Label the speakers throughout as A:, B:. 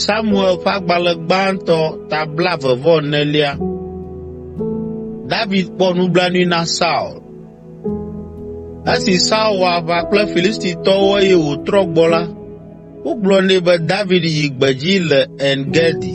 A: Samuel ƒe agbalẽ gbãtɔ ta blaeve vɔ enelia. David kpɔ nublanui na Saul. Esi Saul wɔ aʋa kple Filistitɔwo eye wòtrɔ gbɔ la, wogblɔ nɛ be David yi gbedzi le En Gedi.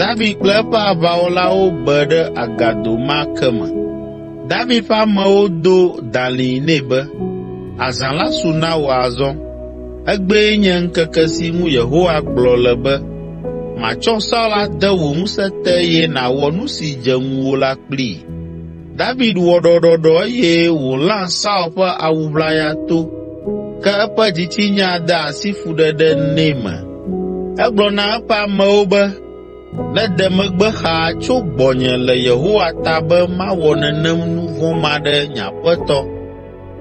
A: David kple eƒe aʋawɔlawo be ɖe agado ma ke me. David ƒe amewo do dalĩ nɛ be, “Azã la su na wò azɔ. Egbee nye ŋkeke si ŋu Yehowa gblɔ le be, ‘Matsɔ Saul ade wò ŋusẽ te eye nàwɔ nu si dze ŋuwò la kplii.’ ” David wɔ ɖɔɖɔɖɔ eye wòlã Saul ƒe awu ʋlaya to, ke eƒe dzitsinya de asi fuɖeɖe nɛ me. Egblɔ na eƒe amewo be, “Nede megbe xaa tso gbɔnye le Yehowa ta be mawɔ nenem nu vɔ̃ ma ɖe nye aƒetɔ,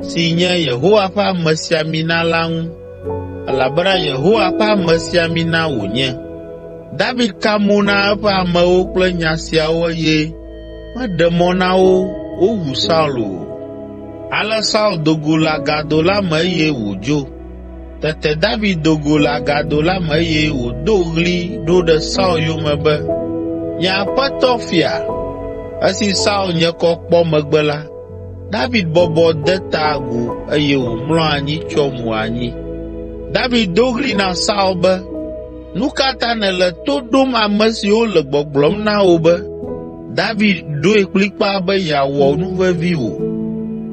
A: si nye Yehowa ƒe amesiamina la ŋu, elabena Yehowa ƒe amesiamina wònye.” David ka mo na eƒe amewo kple nya siawo eye Meɖe mɔ na wo wowu Saul o. Ale Saul do go le agado la me eye wòdzo. Tete David do go le agado la me eye wòdo ɣli ɖo ɖe Saul yome be, “Nye aƒetɔ fia!” Esi Saul nye kɔ kpɔ megbe la, David bɔbɔ de ta agu eye wòmlɔ anyi tsyɔ mo anyi. David do ɣli na Saul be, Nu ka ta nèle to ɖom ame siwo le gbɔgblɔm na wò be, ‘David ɖoe kplikpaa be yeawɔ nu vevi wò’?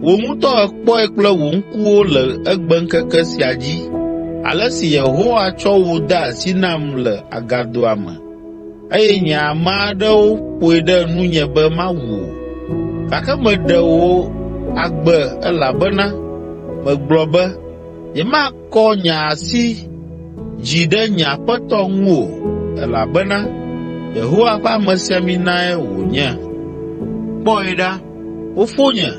A: Wò ŋutɔ èkpɔe kple wò ŋkuwo le egbeŋkeke sia dzi, ale si Yehowa tsɔ wò de asi nam le agadoa me eye nye ame aɖewo ƒoe ɖe nunye be mawu wò. Gake meɖe wò agbe elabena megblɔ be, ‘Nyemakpɔ mɔnu aɖu fia aɖeke o.’ ” Kɔ nye asi dzi ɖe nye aƒetɔ ŋu o, elabena Yehowa ƒe amesiaminae wònye. Kpɔe ɖa, fofonye,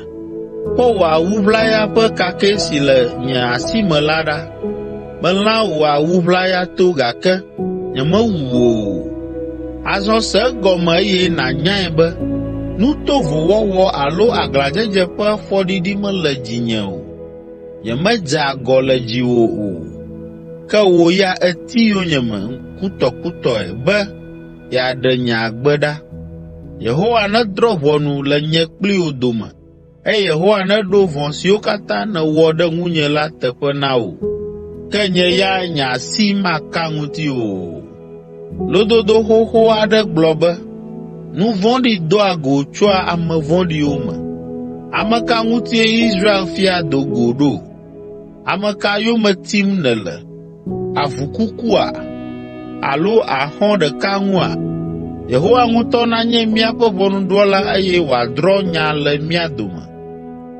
A: kpɔ wò awu ʋlaya ƒe kakɛ si le nye asi me la ɖa. Melã wò awu ʋlaya to gake nyemewu wò o. Azɔ se egɔme eye nànyae be nu tovo wɔwɔ alo aglãdzedze ƒe fɔɖiɖi mele dzinye o.” Nyemedze agɔ le dziwò o, ke wò ya èti yonyeme kutɔkutɔe be yeaɖe nye agbe ɖa. Yehowa nedrɔ̃ ʋɔnu le nye kpli wò dome eye Yehowa neɖo vɔ̃ siwo katã nèwɔ ɖe ŋunye la teƒe na wò, ke nye ya nye asi maka ŋutiwò o.” Lododo xoxo aɖe gblɔ be, “Nu vɔ̃ɖi doa go tsoa ame vɔ̃ɖiwo me.” Ame ka ŋutie Israel fia do go ɖo? Ame ka yome tim nèle? Avu kukua? Alo àxɔ ɖeka ŋua? Yehowa ŋutɔ nanye míaƒe ʋɔnudrɔ̃la eye wòadrɔ̃ nya le mía dome.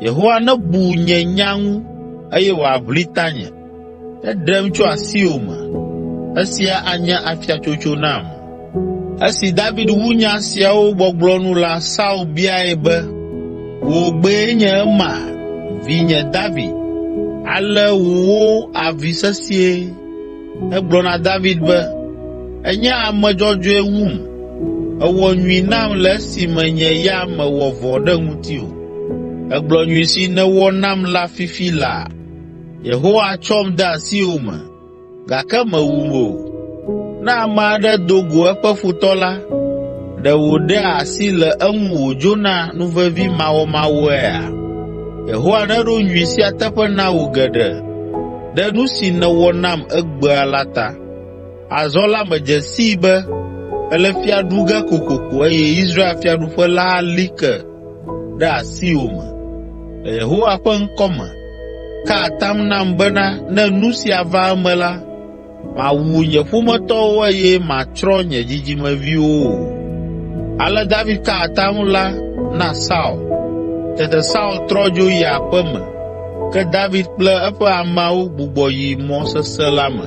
A: Yehowa nebu nye nya ŋu eye wòaʋli tanye. Eɖem tso asiwò me. Esia anye afiatsotso nam.” Esi David wu nya siawo gbɔgblɔ nu la, Saul biae be, “Wò gbee nye ema, vinye David? Ale wòwo avi sesĩe.” Egblɔ na David be, “Ènye ame dzɔdzɔe wum. Èwɔ nyui nam le esime nye ya mewɔ vɔ̃ ɖe ŋutiwò. Ègblɔ nyui si nèwɔ nam la fifi laa. Yehowa tsɔm de asiwò me, gake mèwum o. Ne ame aɖe do go eƒe futɔ la, ɖe wòɖea asi le eŋu wòdzona nuvevimawɔmawɔea? Yehowa neɖo nyui sia teƒe na wò geɖe ɖe nu si nèwɔ nam egbea la ta. Azɔ la medze sii be èle fia ɖu ge kokoko eye Israel fiaɖuƒe la ali ke ɖe asiwò me. Le Yehowa ƒe ŋkɔ me, ka atam nam bena ne nu sia va eme la, màwu nye ƒometɔwo eye màtsrɔ̃ nye dzidzimeviwo o.” Ale David ka atam la na Saul. Tete Saul trɔ dzo yi aƒe me, ke David kple eƒe ameawo gbugbɔ yi mɔ sesẽ la me.